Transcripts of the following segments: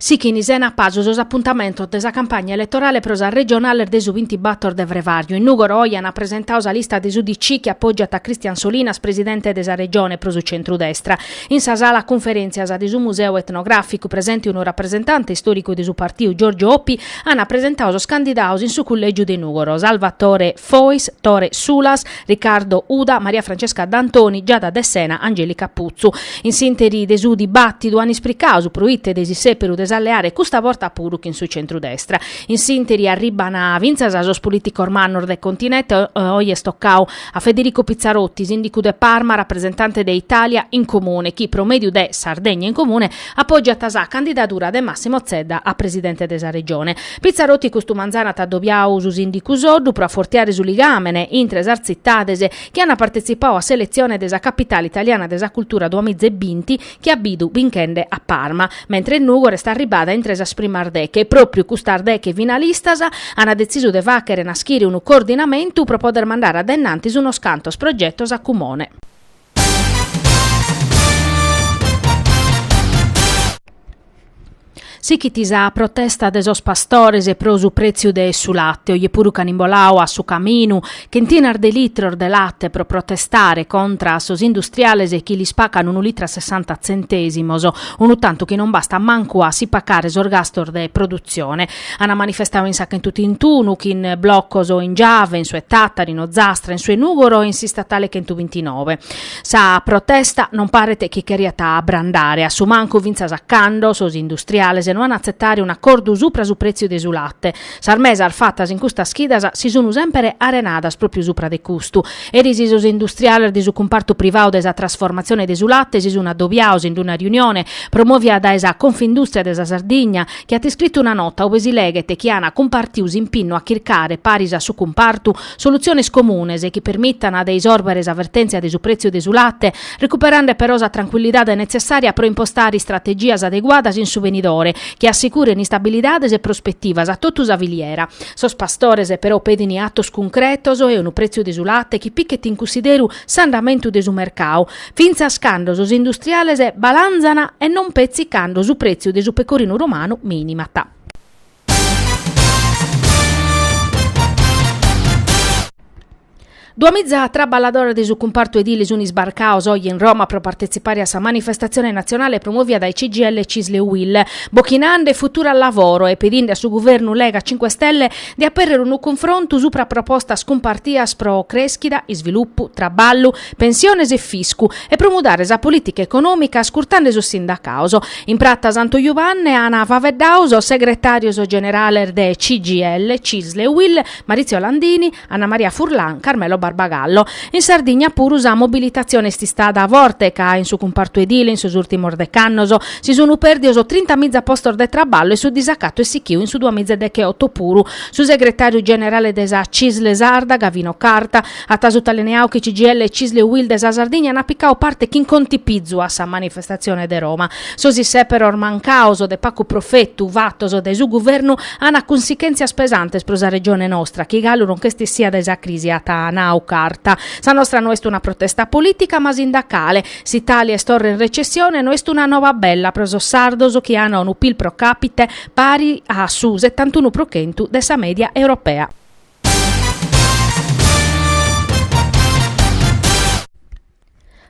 Sighin sena pasu sos apuntamentos de sa campagna eletorale pro sas regionales de su bintibator de frevàrgiu, in Nùgoro oje an apresentadu sa lista de s'UDC chi apògiat a Christian Solinas presidente de sa Regione pro su centrudestra. In sa sala cunferèntzias de su Museu Etnogràficu, presente unu rapresentante istòricu de su partiu Giorgio Oppi, an apresentadu sos candidados in su cullègiu de Nùgoro, Salvatore Fois, Tore Sulas, Riccardo Uda, Maria Francesca D'Antoni, Giada De Sena, Angelica Puzzu. In s'interi de su dibàtidu an ispricau su proite de s'issèperu de s'alleare custa borta puru chin su centru-destra. In s'interi arriban fintzas sos polìticos mannos de continente, oi est tocau a Federico Pizzarotti, sìndicu de Parma, rapresentante de Italia in Comune, chi pro mèdiu de Sardegna in Comune apògiat sa candidadura de Massimo Zedda a presidente de sa Regione. Pizzarotti custu manzanu at adobiau su sìndicu Soddu pro afortiare su ligàmene intre sas tzitades chi ant partetzipau a s'eletzione de sa Capitale italiana de sa cultura duamiza e binti chi at bidu binchende a Parma, mentres Nùgoro est arribada intre sas primas deghe e pròpriu custas deghe finalistas ant detzisu de fàghere naschire unu coordinamentu pro poder mandare a dae innantis unos cantos progetos a cumone. Sighit sa protesta de sos pastores pro su pretziu de su late, oje puru ch'an imboladu a su caminu chentinas de litros de late pro protestare contra a sos industriales chi lis pacan unu litru a sessanta tzentèsimos, unu tantu chi non bastat mancu a si pagare sos gastos de produtzione. Ana manifestau in sa chentu trintunu chin blocos o in Giave, in su 'e Tattari, in Ozastra, in su 'e Nugoro e in s'istatale chentu bintinove. Sa protesta non paret chi cheriat abrandare, a su mancu fintzas a cando sos industriales no an a atzetare un'acordu supra su pretziu de su latte. Sas mesas fatas in custas chidas si sunu semper arenadas pròpiu supra de custu. Eris sos industriales de su cumpartu privau de sa trasformatzione de su latte si sunu adobiados in una riunione promovida dae sa Confindustria de sa Sardigna, chi at iscritu una nota ue si leghet chi an cumpartiu s'impinnu a chircare, paris a su cumpartu, solutziones comunes chi permitana de isòrbere sa vertèntzia de su prètziu de su late, recuperende però sa trancuillidade netzessària pro impostare istrategias adeguadas in su venidore, chi assicurene istabilidade e prospetivas a totu sa filiera. Sos pastores però pedint atos cuncretos e unu prètziu de su late chi pichet in cunsideru s'andamentu de su mercadu, fintzas cando sos industriales balanzan e non petzi cando su pretziu de su pecorinu romanu minimat. Duamiza traballadores de su cumpartu edile sun isbarcados oje in Roma pro partetzipare a sa manifestatzione natzionale promovida dae CGIL, Cisl e UIL, bochinande futuro al lavoro e pedinde a su guvernu Lega Cinque Stelle de aperrere unu cunfrontu supra propostas cumpartidas pro creschida, isvilupu, traballu, pensiones e fiscu, e pro mudare sa polìtica econòmica ascurtende sos sindacados. In Prata Santu Juvanne ant faeddadu sos segretàrios generales de CGIL, Cisl e Uil, Maurizio Landini, Anna Maria Furlan, Carmelo Barbagallo. In Sardigna puru sa mobilitatzione est istada forte ca in su cumpartu edile in sos ùrtimos dec'annos si sunt pèrdidos trinta miza postos de traballu e su disacatu est sichidu in su duamiza e decheoto puru. Su segretàriu generale de sa Cisl sarda, Gavino Carta, At sutalineau chi CGIL e Cisl e Uil de sa Sardigna ana picau parte chin contipizu a sa manifestatzione de Roma. Sos isseperos mancaos o de pacu profetu fatos dae su guvernu ana cunsichentzias pesantes pro sa Regione nostra chi galu non ch'est issia dae sa crisi at nau Carta. Sa nostra no est una protesta politica ma sindacale. S'Italia est torra in recessione no est una noba bella pro sos sardos chi ana unu pil pro capite pari a su settantunu pro chentu de sa media europea.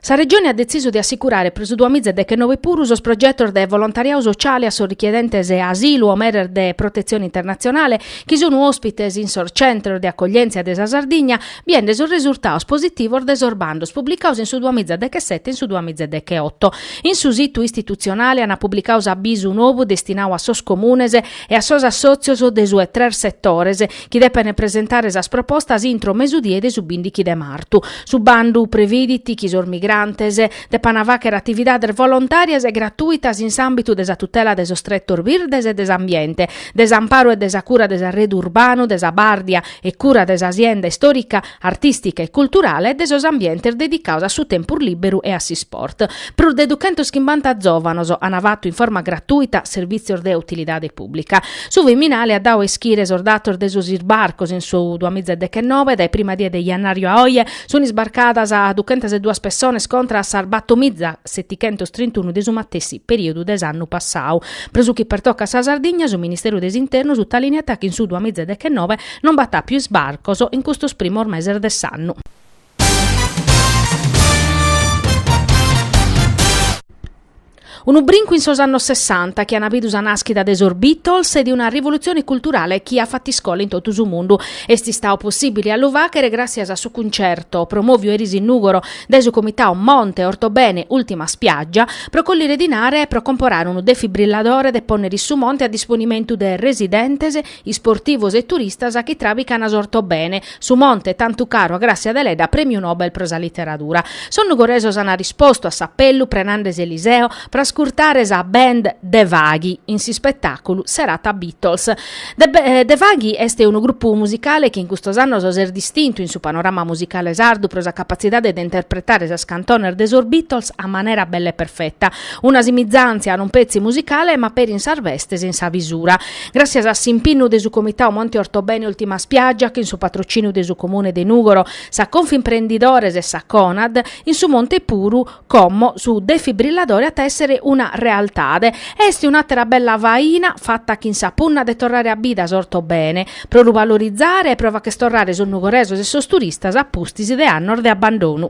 Sa Regione at detzisu de assicurare pro su duamiza e dechenove puru sos progetos de volontariadu sociale a sos richiedentes asilu o meres de protetzione internatzionale chi sunu òspites in sos centros de acoglièntzia de sa Sardigna, biende sos resurtados positivos de sos bandos publicados in su duamiza e dechesete e in su duamiza e decheoto. In su situ istitutzionale ant publicadu s'abisu nou destinadu a sos comunes, e a sos assòtzios de su 'e tres setores chi depene presentare sas propostas intro mesudie de su bindighi de martu. Su bandu previdit chi sos migrantes depana faghere atividades volontàrias e gratuitas in s'àmbitu de sa tutela de sos tretos birdes e de s'ambiente, de s'amparu e de sa cura de s'arredu urbanu, de sa bàrdia e cura de sa sienda istòrica, artìstica e culturale e de sos ambientes dedicados a su tempus lìberu e a s'isport. Prus de duchentos chimbanta zòvanos ant fatu in forma gratùita servìtzios de utilidade pùblica. Su Viminale at dadu a ischire sos datos de sos isbarcos in su duas miza e deghenove, dae sa prima die de jannàriu a oe sunt isbarcadas duchentas e duas pessones contra a sas bator miza setighentos trintunu de su matessi perìodu de s'annu passadu. Pro su chi pertocat sa Sardigna, su Ministeru de s'Internu sutalìniat chi in su duas miza e deghenove, Non b'at àpiu isbarcos in custos primos meses de s'annu. Unu brincu in sos annos sessanta chi an bidu sa nàschida de sos Beatles e de una rivolutzione culturale chi at fatu iscola in totu su mundu. Est istadu possìbile a lu fàghere gràssias a su cuncerto, promòviu eris in Nùgoro dae su comitadu Monte Ortobene Ultima Spiaggia, pro collire dinare e pro comporare unu defibrilladore de pònnere in su monte a disponimentu de residentes, isportivos e turistas chi trabicana s'Ortobene, su monte tantu caru a Grassia Deledda Premiu Nobel pro sa Literadura. Sos nugoresos an arrispostu a s'apellu prenande s'Eliseo pro ascurtare sa band De Vaghi in s'ispetàculu Serata Beatles. De Vaghi est unu grupu musicale chi in custos annos s'est distintu in su panorama musicale sardu pro sa capatzidade de interpretare sas cantones de sos Beatles a manera bella e perfeta, una simizàntzia non petzi musicale ma peri in sas bestes in sa bisura. Gràssias a s'impinnu de su Comitau Monte Ortobene Ultima Spiaggia chin su patrociniu de su Comune de Nùgoro, sa Confimprendidores e sa Conad, in su Monte puru, como, su defibrilladore at a èssere una realtade. Est un'àtera bella faina fata chin sa punna de torrare a bida s'Ortobene, pro lu valorizare e pro facher torrare sos nugoresos e sos turistas a pustis de annos de abbandonu.